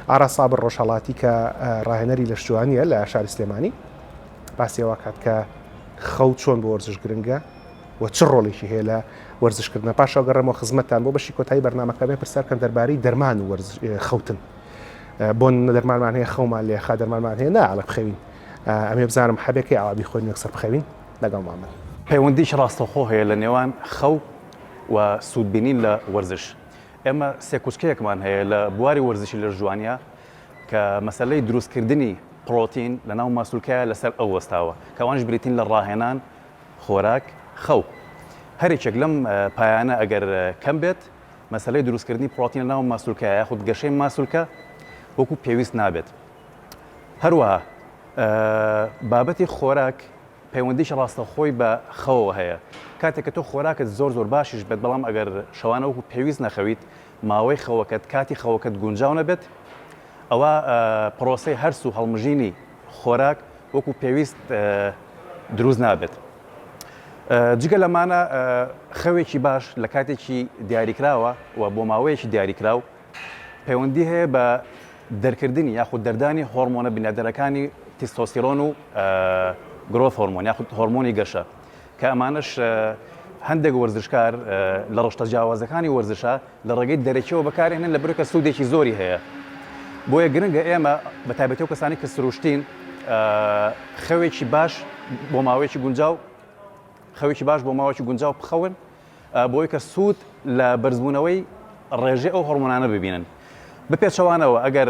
ئاراس سابر ڕۆژهەڵاتی کە ڕاهێنەری لەشجوانییە لە شاری سلێمانی باسی ئەوە کات کە خەو چۆن بۆ وەرزش گرنگە و چ ڕۆڵێکی هەیە لە وەرزشکردنە پاشا گەڕێمەوە خزمەتتان بۆ بەشی کۆتایی بەرنمەکەمێ پرسیارکەن دەربارەی دەرمان و خەوتن بۆ دەرمانمان هەیە خەومان لێ خا دەرمانمان هەیە ناڵە بخەوین ئەمێ بزانم حەبێکی ئاوابی خۆی نەکسەر بخەوین لەگەڵ مامن پەیوەندیش ڕاستەخۆ هەیە لە نێوان خەو و سوودبینین لە وەرزش. ئێمە سێ کوچکەیەکمان هەیە لە بواری وەرزشی لەشجوانیا کە مەسەلەی دروستکردنی پڕۆتین لەناو ماسولکەیا لەسەر ئەو وەستاوە کە ئەوانیش بریتین لە ڕاهێنان، خۆراک، خەو. هەریەکێک لەم پایانە ئەگەر کەم بێت مەسەلەی دروستکردنی پڕۆتین لەناو ماسولکەیا یاخود گەشەی ماسولکە وەکو پێویست نابێت. هەروەها بابەتی خۆراک پەیوەندیەکی ڕاستەوخۆی بە خەوەوە هەیە کاتێک کە تۆ خۆراکت زۆر زۆر باشیش بێت بەڵام ئەگەر شەوانە وەکو پێویست نەخەویت ماوەی خەوەکەت کاتی خەوەکەت گونجاو نەبێت ئەوا پرۆسەی هەرس و هەڵمژینی خۆراک وەکو پێویست دروست نابێت جگە لەمانە خەوێکی باش لە کاتێکی دیاریکراوە و بۆ ماوەیەکی دیاریکراو پەیوەندی هەیە بە دەرکردنی یاخود دەردانی هۆرمۆنە بنیادنەرەکانی تیستۆستیرۆن و گرۆث هۆرمۆن یاخود هۆرمۆنی گەشە کە ئەمانەش هەندێک وەرزشکار لە ڕشتە جیاوازەکانی وەرزشە لە ڕێگەی دەرەکیەوە بەکارێنن لە برکە سوودێکی زۆری هەیە بۆیە گرنگە ئێمە بە تابەتەوە کەسانی کە سروشتین خەوێکی باش بۆ ماوەیەکی گونجاو خەوێکی باش بۆ ماوەکی گونجاو بخەون بۆی کە سوود لە بەرزبوونەوەی ڕێژەی ئەو هۆڕمۆنانە ببینن. بە پێچەوانەوە ئەگەر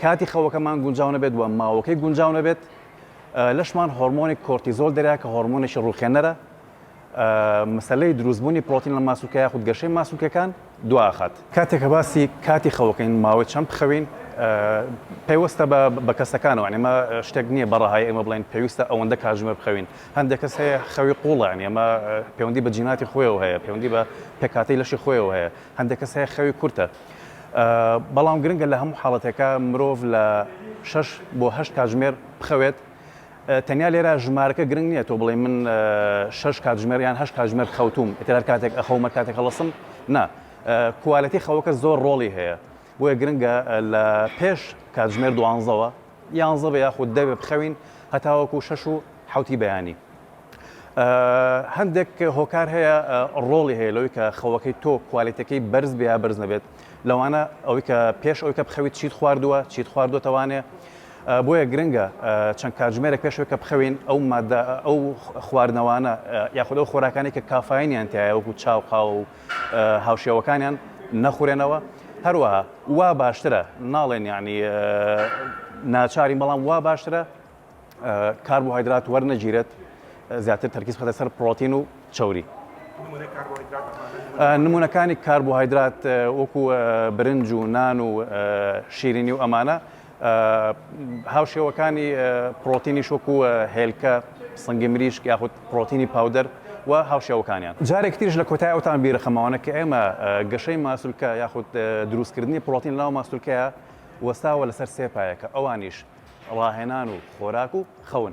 کاتی خەوەکەمان گونجاو نەبێت و ماوەکەی گونجاو نەبێت، لەشمان هۆڕمۆنی کۆرتیزۆل دەریا کە هۆڕمۆنێکی ڕووخێنەرە، مەسەلەی دروستبوونی پرۆتین لە ماسولکە یاخود گەشەی ماسولکەکان، دواخات. کاتێک کە باسی کاتی خەوەکەین ماوەی چەند بخەوین پەیوەستە بە بە کەسەکانەوە یانی ئەمە شتێک نییە بە ڕەهایی ئێمە بڵێین پێویستە ئەوەندە کاتژمێر بخەوین هەندێک کەس هەیە خەوی قووڵە یانی ئەمە پێوەندی بە جیناتی خۆیەوە هەیە پێوەندی بە پێکهاتەی لەشی خۆیەوە هەیە هەندێک کەس هەیە خەوی کورتە بەڵام گرنگە لە هەموو حاڵەتێکە مرۆڤ لە شەش بۆ هەشت کاتژمێر بخەوێت تەنیا لێرە ژمارەکە گرنگ نیە تۆ بڵێی من شەش کاتژمێر یان هەشت کاتژمێر خەوتووم ئیتر هەر کاتێک ئەخەوم هەر کاتێک هەڵەسم نا کوالێتی خەوەکە زۆر ڕۆڵی هەیە بۆیە گرنگە لە پێش کاتژمێر دوانزەوە یانزە بە یاخود دەوێ بخەوین هەتاوەکو شەش و حوتی بەیانی هەندێک هۆکار هەیە ڕۆڵی هەیە لەوەی کە خەوەکەی تۆ کوالێتەکەی بەرز بیا بەرز نەبێت لەوانە ئەوەی کە پێش ئەوکە بخەویت چیت خواردووە چیت خواردوەتەوانێ بۆیە گرنگە چەند کاتژمێرێک پێش ئەوەی کە بخەوین ئەو ماددە ئەو خواردنەوانە یاخود ئەو خۆراکانەی کە کافاینیان تیایە وەکو چا و قاوە و هاوشێوەکانیان نەخورێنەوە هەروەها وا باشترە ناڵێن یعنی ناچارین بەڵام وا باشترە کاربۆهایدرات وەرنەگیرێت زیاتر تەرکیز بخەتە سەر پرۆتین و چەوری نمونونەکانی کاربۆهایدرات وەکو برنج و نان و شیرینی و ئەمانە هاوشێوەکانی پڕۆتینیش وەکو هێلکە، سنگی مریشک یاخود پڕۆتینی پاودەر و هاوشێوەکانیان. جارێکی تریش لە کۆتای ئەو تام بیرە خەماوانە کە ئێمە گەشەی ماسولکە یاخود دروستکردنی پڕۆتین لەناو ماستولکەیا وەستاوە لەسەر سێ پایەکە ئەوانیش ڕاهێنان و خۆراک و خەون.